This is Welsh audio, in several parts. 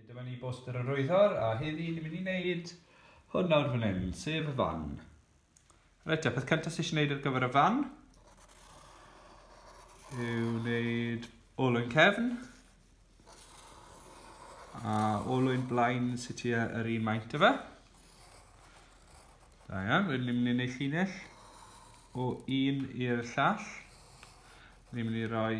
Dyma ni boster yr oeddor, a heddi ni'n mynd i wneud hwn nawr fan hyn, sef y fan. Reit, a peth cyntaf sy'n eisiau gwneud ar gyfer y fan yw wneud ôl yn cefn a ôl yn blaen sy'n tua yr un maint o fe. Da iawn, wedyn ni'n mynd i wneud llinell o un i'r llall. Ni'n mynd i roi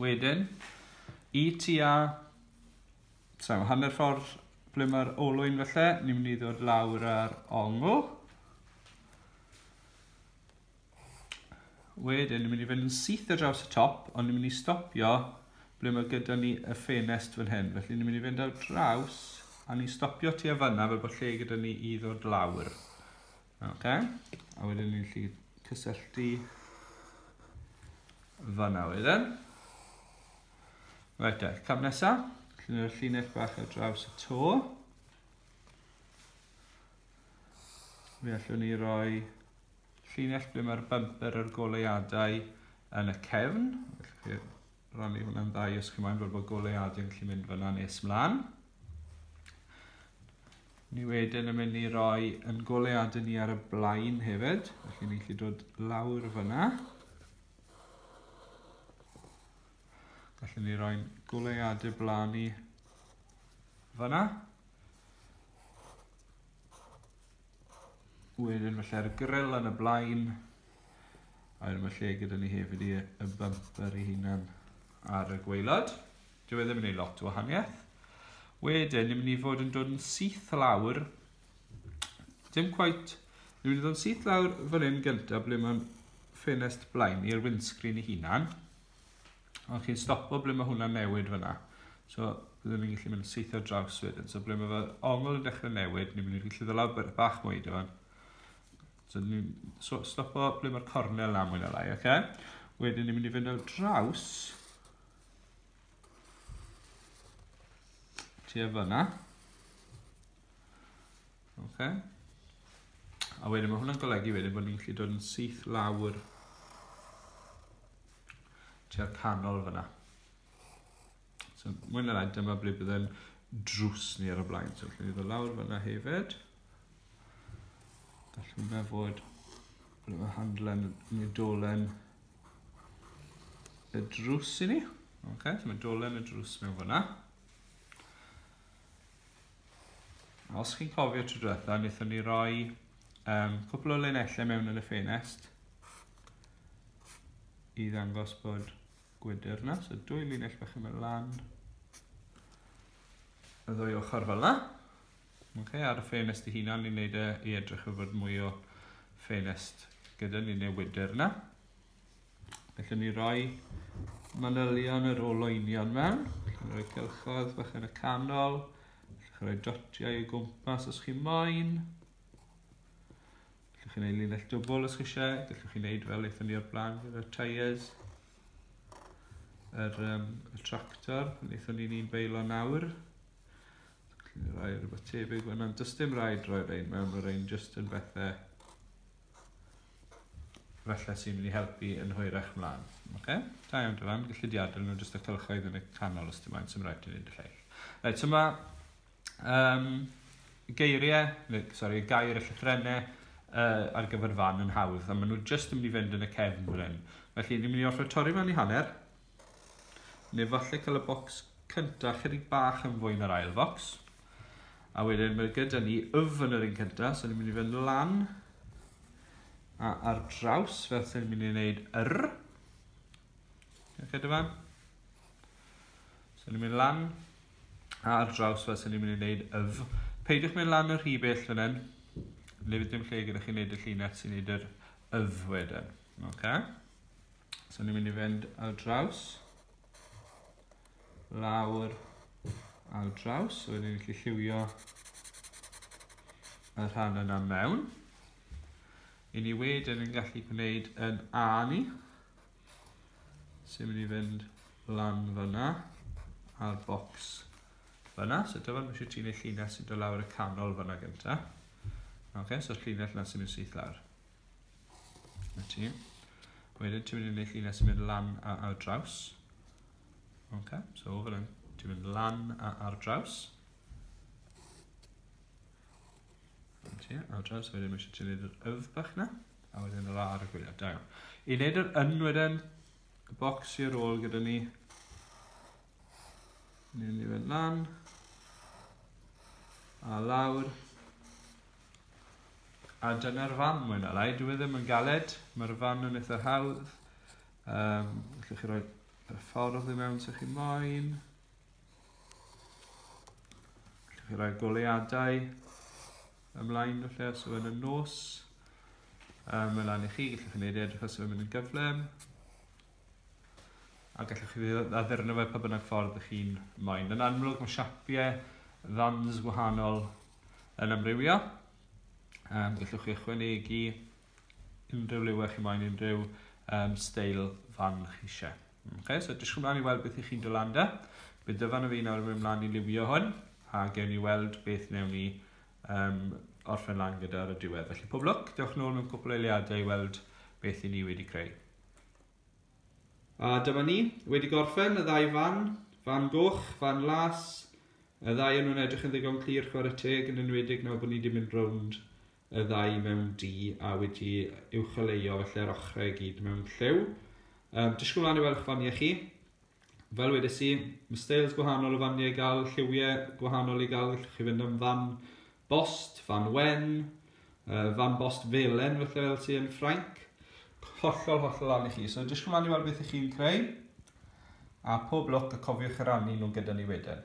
Wedyn, i tua... So, hanner ffordd ble mae'r olwyn felly, ni'n mynd i ddod lawr ar ongl. Wedyn, ni'n mynd i fynd yn syth ar draws y top, ond ni'n mynd i stopio ble mae gyda ni y ffenest fan hyn. Felly, ni'n mynd i fynd ar draws, a ni'n stopio tu a fanna fel bod lle gyda ni i ddod lawr. Ok, a wedyn ni'n lli cysylltu fanna wedyn. Right, e, cam nesa, llunio'r llinell bach ar draws y to. Mi allwn ni roi llinell ble mae'r bumper a'r goleuadau yn y cefn. Felly, rannu hwnna'n dda i ysgrifennu mlaen fel bod goleuadau yn gallu mynd fyna nes mlaen. Ni wedyn yn mynd i roi yn goleuadau ni ar y blaen hefyd, felly ni'n gallu dod lawr fyna. Felly ni roi'n goleuadau blaen ni fyna. Wedyn felly'r grill yn y blaen. A wedyn mae lle gyda ni hefyd i y bumper i hunan ar y gweilod. Dwi e ddim yn ei lot o wahaniaeth. Wedyn, ni'n mynd i fod yn dod yn syth lawr. Dim quite. Ni'n mynd i fod yn syth lawr fan hyn gyntaf ble mae'n ffenest blaen i'r windscreen i hunan. Ond chi'n stopo ble mae hwnna'n newid fyna. So, byddwn ni'n gallu mynd syth ar draws wedyn. So, ble mae fy ongl yn dechrau newid, ni'n mynd i'n gallu ddolaw bach mwy dy fan. So, ni'n so, stopo ble mae'r cornel na mwy na lai, oce? Okay? Wedyn ni'n mynd i fynd ar draws. Tua fyna. Oce? Okay? A wedyn mae hwnna'n golygu wedyn bod ni'n gallu dod yn syth lawr tua'r canol fyna. So, mwy na lai, dyma ble bydd yn drws ni ar y blaen. So, allwn ni ddod lawr fyna hefyd. Gallwn fe fod bod y handlen neu dolen y drws i ni. Ok, so mae dolen y drws mewn fyna. Os chi'n cofio tro diwetha, wnaethon ni roi um, cwpl o linellau mewn yn y ffenest i ddangos bod gwydr yna. So dwy linell bach yn mynd lan y ddwy ochr fel yna. Okay, ar y ffenest i hunan, ni'n neud e i edrych o fod mwy o ffenest gyda ni neu wydr yna. Felly ni roi manylion yr olwynion mewn. Chi'n rhoi cylchoedd bach yn y canol. Chi'n rhoi dotiau i gwmpas os chi'n moyn. Gallwch chi'n ei linell dwbl os chi eisiau. Gallwch chi'n neud fel eithon ni o'r blaen gyda tyres. Yr, um, y tractor, pan eithon ni'n un beilo nawr. Gallwch chi'n rhoi rhywbeth tebyg fyna'n dysdim rhaid rhoi rhaid mewn, rhaid rhaid just yn bethau Felly sy'n mynd i helpu yn hwyrach mlaen. Oce? Da iawn Dylan, gallu di adael nhw jyst y cylchoedd yn y canol os dim ond sy'n rhaid i ni'n dy lleill. Reit, so mae um, geiriau, neu, sorry, gair y llythrennau uh, ar gyfer fan yn hawdd, a maen nhw jyst yn mynd i fynd yn y cefn fan hyn. Felly, ni'n mynd i orfod torri fan i hanner, Neu falle cael y bocs cynta chydig bach yn fwy na'r ail focs. A wedyn mae gyda ni yf yn yr un cynta, so ni'n mynd i fynd lan a ar draws fel sy'n mynd i wneud yr. Ydych fan? So ni'n mynd lan a ar draws fel sy'n ni'n mynd i wneud yf. Peidiwch mynd lan y rhy bell fan hyn. Neu fydd dim lle gyda chi wneud y llinell sy'n wneud yr yf wedyn. Okay? So ni'n mynd i fynd ar draws. Lawr ar draws. So ni'n gallu lliwio y rhan yna mewn. I ni wedyn yn gallu gwneud yn A ni. So ni'n mynd i fynd lan fyna a'r bocs fyna. So dyfod mae eisiau ti'n ei llinell sy'n dod lawr y canol fyna gyntaf. Oce, okay, so'r llinell yna sy'n mynd syth lawr. Na ti. Wedyn ti'n mynd i wneud llinell sy'n mynd lan a ar draws. Ok, so fel hyn, ti'n mynd lan a ar draws. Ti, ar draws, wedyn mae eisiau ti'n gwneud yr yf bach na, a wedyn yr ar y gwyliau, da iawn. I wneud yr yn wedyn, y bocs i ar ôl gyda ni, Ni'n mynd i fynd lan. A lawr. A dyna'r fan mwy na lai. Dwi e ddim yn galed. Mae'r fan yn eitha hawdd. Um, Felly chi roi y ffordd i mewn sy'ch chi moyn. Felly chi roi goleadau ymlaen felly os yw'n y nos. Um, mae lan i chi, gallwch chi wneud edrych os yw'n mynd yn gyflym. A gallwch chi addurno fe pa bynnag ffordd ych chi'n moyn. Yn amlwg mae siapiau fans gwahanol yn amrywio. Um, gallwch chi ychwanegu unrhyw liwau chi moyn, unrhyw um, steil fan chi eisiau. Okay, so dysgwch mlaen i weld beth ych chi'n dod lan da. Bydd dyfan o fi nawr yn mynd mlaen i liwio hwn, a gewn ni weld beth newn ni um, orffen lan gyda ar y diwedd. Felly pob lwc, dewch nôl mewn cwpl eiliadau i weld beth i ni wedi creu. A dyma ni, wedi gorffen y ddau fan, fan goch, fan las. Y ddau yn nhw'n edrych yn ddigon clir chwarae teg yn enwedig nawr bod ni wedi mynd rownd y ddau mewn di a wedi uwcholeuo felly'r ochrau i gyd mewn llew. Um, disgwyl mlaen i weld eich faniau chi. Fel wedes i, mae styles gwahanol o faniau i gael lliwiau gwahanol i gael, gallwch chi fynd am fan bost, fan wen, fan bost felen felly fel ti yn Ffrainc, hollol hollol lan i chi. So edrych ymlaen i weld beth ych chi'n creu, a pob lwc a cofiwch i rannu nhw gyda ni wedyn.